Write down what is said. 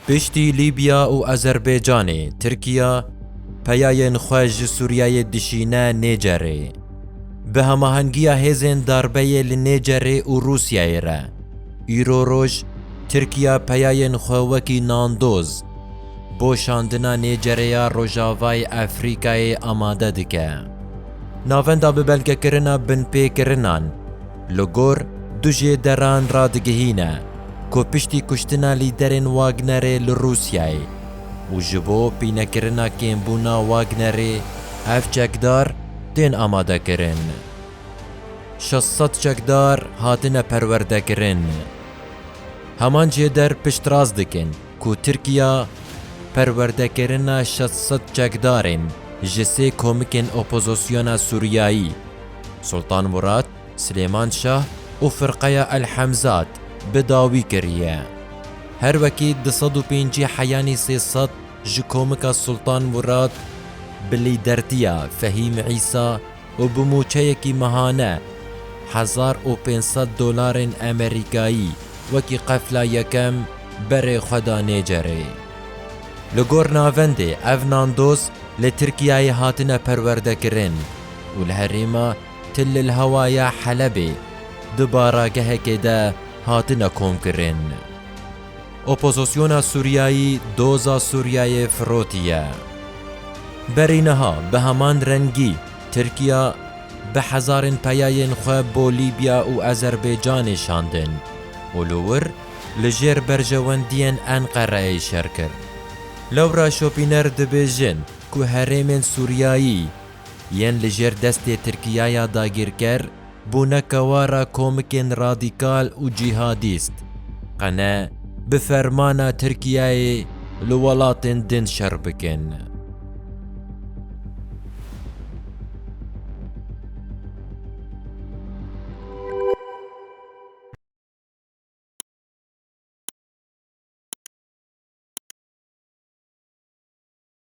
Piştî Lîbya û Azerbaycanê, Tirkiya peyayên xwe ji Sûriyeyê dişîne Nêcerê. Bi hemahengiya hêzên darbeyê li Nêcerê û Rûsyayê re, îro roj Tirkiya peyayên xwe wekî nandoz, Bo şandina nêcerê ya Rojavayê Efrîkayê amade dike. Navenda bi belgekirina binpêkirinan li gor du jê deran re digihîne ku piştî kuştina lîderên Wagnerê li Rûsyayê û ji bo pînekirina kêmbûna Wagnerê ev çekdar tên amadekirin. Şeş sed çekdar hatine perwerdekirin. Heman jêder piştrast dikin. ku Tirkiya perwerdekirina şeş sed çekdarên ji sê komikên opozisyona Sûriyayî, Sultan Murad, Silêman Şah û Firqeya El Hemzat bi dawî kiriye. Her wekî du sed û pêncî heyanî sê sed ji komika Sultan Murad bi lîdertiya Fehîm Îsa û bi mûçeyekî mehane, hezar û pênc sed dolarên Amerîkayî, wekî qefla yekem berê xwe da Nêcerê. Li gor navendê ev nandoz li Tirkiyeyê hatine perwerdekirin û li herêma Tillilhewa ya Helebê di baragehekê de hatine komkirin. Opozosyona Sûriyayî doza Sûriyeyê firotiye. Berî niha bi heman rengî Tirkiya bi hezarên peyayên xwe bo Lîbya û Azerbaycanê şandin û li wir li jêr berjewendiyên Enqereyê şer kir. Laura Schopiner dibêjin ku herêmên Sûriyayî yên li jêr destê Tirkiyaya dagîrker, bûneke war a komikên radîkal û cîhadîst, qene bi fermana Tirkiyeyê li welatên din şer bikin.